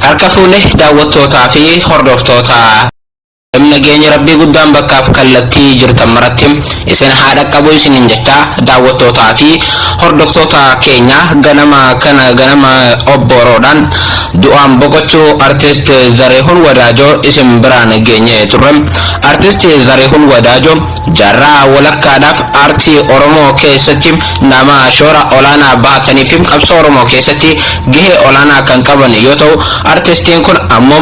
harka fuune daawwattootaa fi hordoftoota nageenya rabbii guddaan bakkaaf kallattii jirtan maratti Isin haa dhaqqabu isiniin jechaa daawwattootaa fi hordoftoota keenya ganama kana ganama obbooroodhaan du'aan boqochuu Artist Zarihun Wadaajoo isin biraan geenye turre. Artist Zarihun Wadaajoo jaarraa walakkaadhaaf aartii Oromoo keessatti nama shoora olaanaa bahatanii fi qabsoo Oromoo keessatti gahee olaanaa kan qaban yoo ta'u, artistiin kun ammoo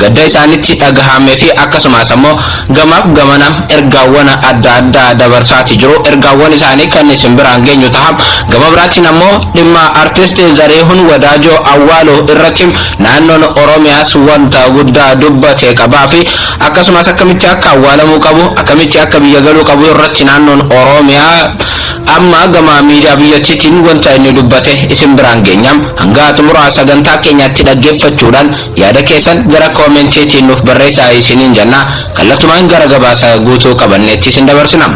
Gadda isaanitti dhagahame fi akkasumaas ammoo gamaaf gamana ergaawwana adda addaa dabarsaati jiru. Ergaawwan isaanii kan isin biraan geenyu taha. Gama biraatiin ammoo dhimma Artist Zariihun Wadaajoo awwaaluu irratti naannoon Oromiyaas wanta guddaa dubbate qabaa fi akkasumaas akkamitti akka awwaalamuu qabu, akkamitti akka biyya galuu qabu irratti naannoon Oromiyaa amma gama miidiyaa biyyattiitiin wanta inni dubbate isin biraan geenya. Hanga xumura sagantaa keenyaatti dhaggeeffachuudhaan Yaada keessan gara comment tiin nuuf barreessaa isiniin jenna. Kallatumaan gara gabaasa guutuu qabanneetti isin dabarsina.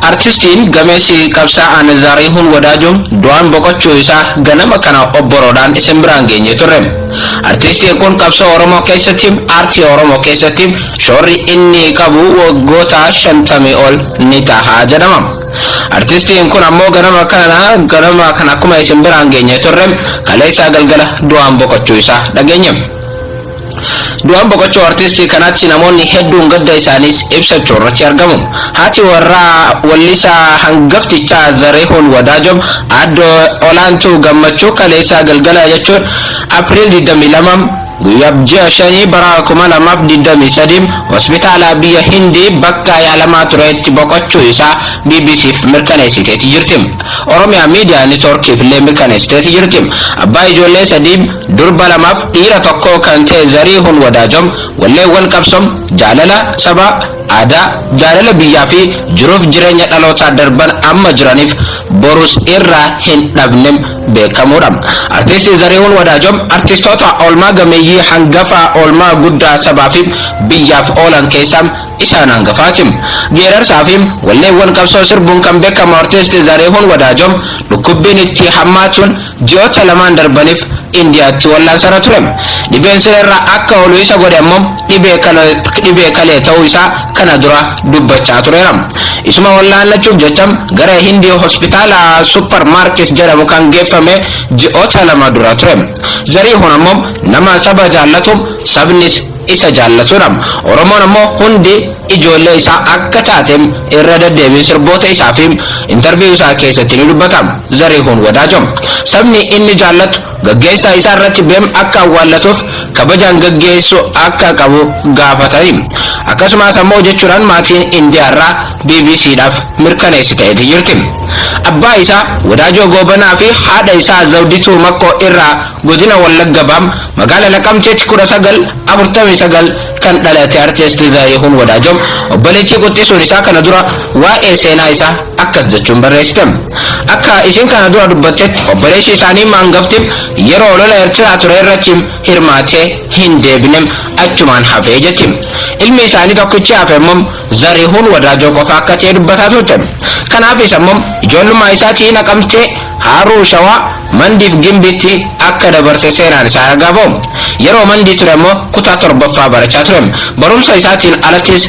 Artistiin gameessi qabsaa'aan Zaariihuun Wadaajoo du'aan boqochuu isaa ganama kana obboroodhaan isin biraan geenye turre. Artistiin kun qabsoo Oromoo keessatti, aartii Oromoo keessatti, Shoorri inni qabu waggoota shantamii ol ni taha jedhama. Artistiin kun ammoo ganama kana ganama kana akkuma isin biraan geenye turre kaleessaa galgala du'aan boqochuu isaa dhageenye. Du'aan boqochuu artistii kanaatti namoonni hedduun gadda isaaniis ibsachuu irratti argamu. Haati warraa wallisaa hangaftichaa Zarihuun Wadaajoom aadde Olaantuu Gammachuu kaleessaa galgala jechuun April 22 Guyyab ji'a shanii bara 2023 hospitaala biyya Hindii bakka yaalamaa tureetti boqochuu isaa BBC'f mirkaneessiteeti jirti. Oromia Media Network'f illee mirkaneessiteeti jirti. Abbaa ijoollee sadii, durba lamaaf dhiira tokkoo kan ta'e Zariihun Wadaajom walleewwan qabsoo, jaalala sabaa, aadaa, jaalala biyyaa fi jiruuf jireenya dhalootaa darban amma jiraniif borus irraa hin dhabne beekamuudha. Artisti Zarihuun Wadaajoo artistoota oolmaa gameeyyii hangafa oolmaa guddaa sabaa fi biyyaaf oolan keessaa isaan hangafaati. Geerarsaa fi walleewwan qabsoo sirbuun kan beekamu artisti Zarihuun Wadaajoo dhukkubbiin itti hammaatuun ji'oota lamaan darbaniif Indiyaatti wallaansarra ture. Dhibeen sireerra akka oolu isa godhe ammoo dhibee kalee ta'uu isaa kana dura dubbachaa tureera. Isuma wallaannachuuf jecha gara Hindii hospitaala Super Markis jedhamu kan geeffame ji'oota lama dura ture. Zariihun ammoo nama saba jaallatu sabnis isa jaallatudha. Oromoon ammoo hundi ijoollee isaa akka taate irra deddeebiin sirboota isaa fi intarviiyuu isaa keessatti ni dubbata. Zariihun Wadaajo. Sabni inni jaallatu Gaggeessaa isaa irratti bem akka awwaallatuuf kabajaan gaggeessu akka qabu gaafatani. Akkasumaas ammoo jechuudhaan maatiin Indiyaa irraa bbc dhaaf mirkaneessiteeti jirti. Abbaa isaa Wadaajoo Goobanaa fi haadha isaa Zawdituu Makkoo irraa Godina Wallagga Baam magaala Naqamteetti 19, 49 kan dhalate Artist Zarihun Wadaajo obboleettii quxxisuun isaa kana dura waa'ee seenaa isaa akkas jechuun barreessite, Akka isin kana dura dubbattetti obboleessi isaanii maangaftin yeroo lola Ertiraa ture irratti hirmaatee hin deebine, achumaan hafe jetti. Ilmi isaanii tokkichi hafe immoo Zarihuun Wadaajoo qofa akka ta'e dubbataa turte. Kanaaf isa immoo ijoollummaa isaatii Naqamtee, Haaruu Shawaa, Mandii fi Gimbiitti akka dabarse seenaan isaa ragaa ba'u. Yeroo Mandii ture immoo kutaa torbaffaa barachaa ture. Barumsa isaatiin alattis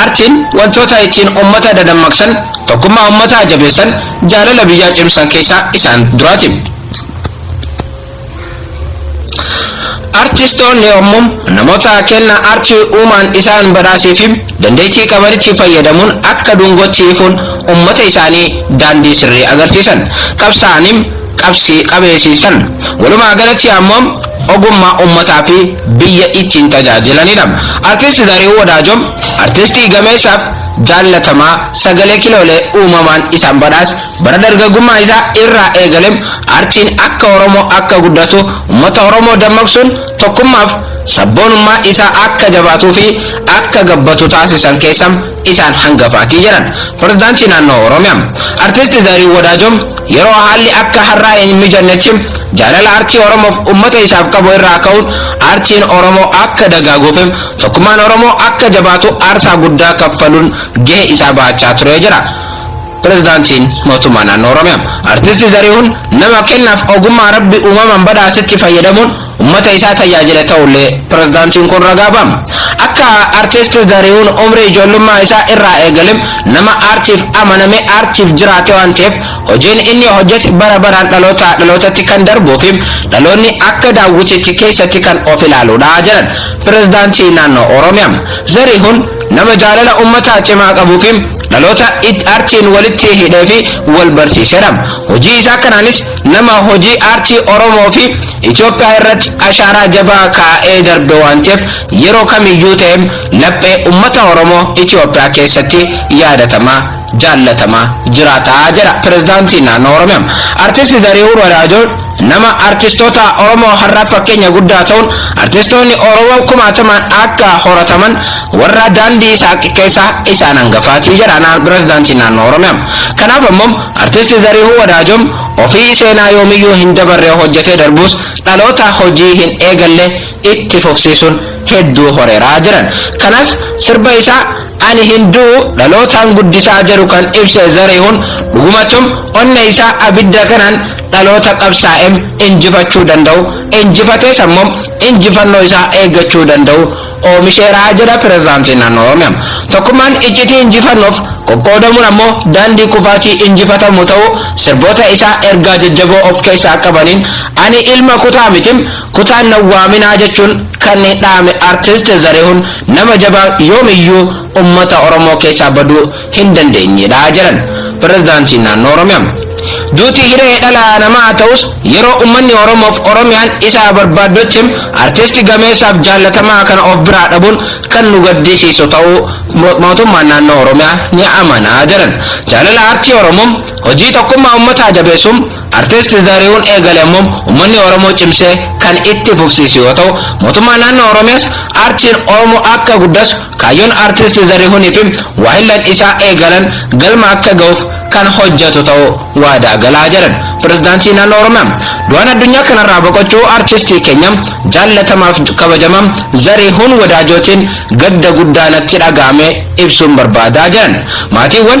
Aartiin wantoota ittiin ummata dadammaqsan, tokkummaa ummataa jabeessan, jaalala biyyaa cimsan keessaa isaan duraati. Artistoonni yommuu namoota kenna aartii uumaan isaan badhaaseefi dandeettii qabanitti fayyadamuun akka dungootti ifuun ummata isaanii daandii sirrii agarsiisan. Qabsaa'anii qabsii qabeesiisan. Walumaa galatti ammoo ogummaa ummataa fi biyya ittiin tajaajilanidha. Artist Zarihuun Wadaajoo artistii gameessaaf jaallatamaa sagalee kiloolee uumamaan isaan badhaas bara dargaggummaa isaa irraa eegale artiin akka Oromoo akka guddatu ummata Oromoo dammaqsuun tokkummaaf sabboonummaa isaa akka jabaatuu fi akka gabbatu taasisan keessa isaan hangafaati jedhan Pirezidaantii Naannoo Oromiyaa Artisti Zarihuun Wadaajoo yeroo haalli akka har'aa hin mijannetti jaalala artii Oromoof ummata isaaf qabu irraa ka'uun artiin Oromoo akka dagaaguufi tokkummaan Oromoo akka jabaatu aarsaa guddaa kaffaluun gahee isaa bahachaa turee jira. Pirezidaantiin Mootummaa Naannoo Oromiyaa Artisti Zarihuun nama kennaaf ogummaa Rabbi uumamaan badhaasetti fayyadamuun ummata isaa tajaajile ta'ullee pirezidaantiin kun ragaa ba'a. Akka Artisti Zarihuun umrii ijoollummaa isaa irraa eegalem nama aartiif amanamee aartiif jiraate waan ta'eef hojiin inni hojjete bara baraan dhalootaa dhalootatti kan darbuufi dhaloonni akka daawwitiitti keessatti kan of ilaaluudha jedhan pirezidaantii naannoo Oromiyaa. Zarihuun nama jaalala ummataa cimaa qabuufi dhaloota aartiin walitti hidheefi wal barsiisedha. Hojii isaa kanaanis Nama hojii aartii Oromoo fi Itoophiyaa irratti ashaaraa jabaa kaa'ee darbe waan ta'eef yeroo kamiyyuu ta'e laphee ummata Oromoo Itoophiyaa keessatti yaadatamaa, jaallatamaa jiraata jedha Pirezidaantiin Naannoo Oromiyaa. Artisti Zarihuun Wadaajoon nama artistoota Oromoo har'aaf fakkeenya guddaa ta'uun artistoonni Oromoo kumaatamaan akka horataman warra daandii saaqe keessaa isaan hangafaati jedha Pirezidaantiin Naannoo Oromiyaa. Kanaaf ammoo Artisti Zarihuu Wadaajom ofii seenaa yoomiyyuu hin dabarre hojjetee darbuus dhaloota hojii hin eegalle itti fufsiisuun hedduu horeera jedhan. Kanas sirba isaa Ani hin du'u dhalootaan guddisaa jedhu kan ibse Zarihuun dhugumattum onne isaa abidda kanaan dhaloota qabsaa'em injifachuu danda'u, injifatees ammoo injifannoo isaa eeggachuu danda'u oomisheera jedha Pirezidaantiin Naannoo Oromiyaa. Tokkummaan iccitii injifannoof, qoqqoodamuun ammoo daandii kufaatii injifatamu ta'uu sirboota isaa ergaa jajjaboo of keessaa qabaniin Ani ilma kutaa mitim, kutaan na waaminaa jechuun kan dhaame Artist Zarihun nama jabaa yoomiyyuu ummata Oromoo keessaa baduu hin dandeenyedha jedhan Pirezidaantiin Naannoo Oromiyaa. Duuti hiree dhala namaa ta'us yeroo ummanni Oromoof Oromiyaan isa barbaaddutti artisti gameessaaf jaallatamaa kana of biraa dhabuun kan nu gaddisiisu ta'uu mootummaan naannoo Oromiyaa ni amana jedhan. Jaalala aartii Oromoo, hojii tokkummaa ummataa jabeessuu artisti Zarihuun eegale ammoo ummanni Oromoo cimsee kan itti fufsiisu yoo ta'u, mootummaan naannoo Oromiyaas aartiin Oromoo akka guddasu Kaayyoon Artist Zarihunfi waahillan isaa eegalan galma akka gahuuf kan hojjatu ta'uu waadaa gala jedhan Pirezidaantii Naannoo Oromiyaa. Du'aan addunyaa kanarraa boqochuu Artistii keenya jaallatamaaf kabajamaa Zarihun Wadaajootiin gadda guddaa natti dhaga'ame ibsuun barbaada jedhan. Maatiiwwan.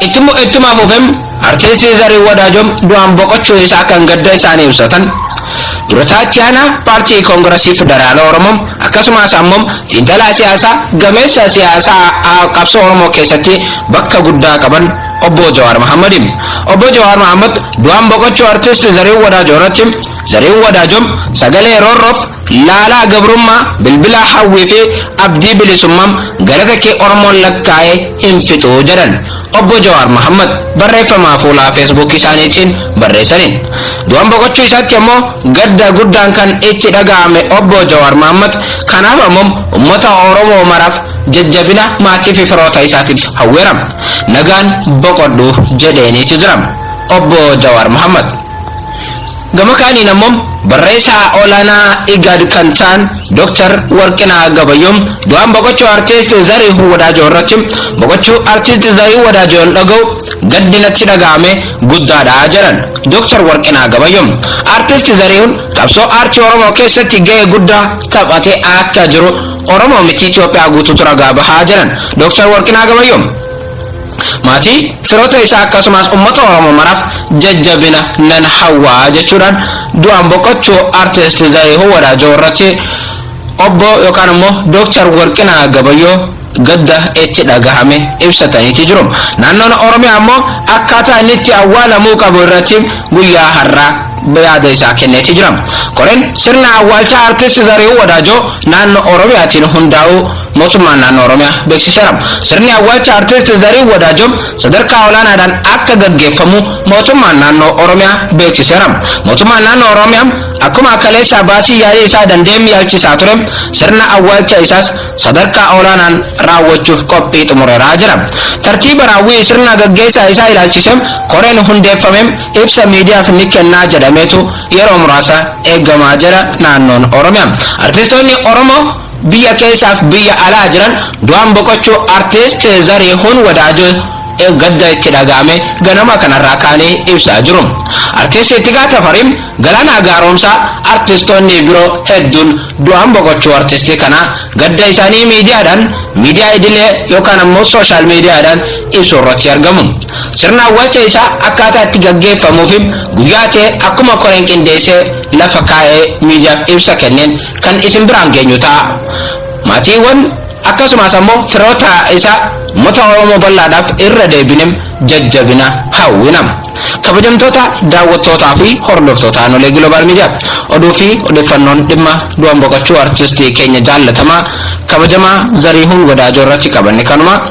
Ittuma fufem Artiistii Zarihuun Wadaajoo du'aan boqochuu isaa kan gadda isaanii ibsatan durataa itti aanaa paartii koongirasii federaalaa Oromoo akkasumas ammoo xiinxalaa siyaasaa gameessa siyaasaa qabsoo Oromoo keessatti bakka guddaa qaban obbo Jawaar Mahammadi. Obbo Jawaar Mahammad du'aan boqochuu Artiist Zarihuun Wadaajoo irratti Zarihuun Wadaajoo sagalee roorroof Laalaa gabrummaa bilbilaa hawwii fi abdii bilisummam galata kee Oromoon lakkaa'ee hin fixu jedhan Obbo Jawaar Mahaammad barreeffamaa fuulaa Facebook isaaniitiin barreessaniin. Du'an boqochuu isaatti ammoo gadda guddaan kan itti dhaga'ame Obbo Jawaar Mahaammad kanaaf ammom ummata Oromoo maraaf jajjabina maatii fi firoota isaatiif hawweeram. Nagaan boqodhu jedheeniiti jiram Obbo Jawaar Mahaammad. Gama kaaniin ammoo barreessaa olaanaa IGAD kan ta'an Dr. Warqinaa Gabayyoon du'aan boqochuu Artiist Zarihuu Wadaajoo irratti boqochuu Artiist Zarihuu Wadaajoon dhaga'u gaddi natti dhaga'ame guddaadha jedhan Dr. Warqinaa Gabayyoon. Artiist Zarihuun qabsoo aartii Oromoo keessatti gahee guddaa taphatee akka jiru Oromoo miti Itoophiyaa guutuutu ragaa baha jedhan Dr. Warqinaa Gabayyoon. Maatii, firoota isaa akkasumas ummata Oromoo maraaf jajjabina nan hawwa jechuudhaan du'aan boqochuu Artist Zarihuu Wadaajoo irratti Obbo yookaan immoo Dooktar Warqinaa Gabayyoo gadda itti dhagahame ibsataniiti jiru. Naannoon Oromiyaa ammoo akkaataa inni itti awwaalamuu qabu irratti guyyaa har'aa yaada isaa kenneeti jira. Koreen sirna awwaalchaa Artist Zarihuu Wadaajoo naannoo Oromiyaatiin hundaa'uu Mootummaan Naannoo Oromiyaa beeksiseera. Sirni awwaalcha Artist Zarihuun Wadaajoo sadarkaa olaanaadhaan akka gaggeeffamu Mootummaan Naannoo Oromiyaa beeksiseera. Mootummaan Naannoo Oromiyaa akkuma kaleessaa baasii yaa'ii isaa danda'een yaalchisaa ture, sirna awwaalcha isaas sadarkaa olaanaan raawwachuuf qophii xumureera jedha. Tartiiba raawwii sirna gaggeessaa isaa ilaalchisee koreen hundeeffame ibsa miidiyaaf ni kennaa jedhameetu yeroo muraasa eegamaa jira Naannoon Oromiyaa. Artistoonni Oromoo Biyya keessaaf biyya alaa jiran du'aan boqochuu Artist Zarihuun Wadaajoo gadda itti dhaga'ame ganama kanarraa kaanii ibsaa jiru. Artist Ittigaa Tafarii, Galaanaa Gaaromsaa, artistoonni biroo hedduun du'aan boqochuu artistii kanaa gadda isaanii miidiyaadhaan, miidiyaa idilee yookaan ammoo social mediaadhaan ibsuurratti argamu. Sirna awwaalcha isaa akkaataa itti gaggeeffamuufi guyyaa ta'e akkuma koreen qindeessee lafa kaa'ee miidiyaaf ibsa kenneen kan isin biraan geenyu ta'a. Maatiiwwan akkasumas ammoo firoota isaa uummata Oromoo bal'aadhaaf irra deebinem jajjabina hawwina. Kabajamtoota daawwattootaa fi hordoftoota Aanolee Global Media oduu fi odeeffannoon dhimma du'an boqochuu artistii keenya jaallatamaa kabajamaa Zarihuun Wadaajoo irratti qabanne kanuma.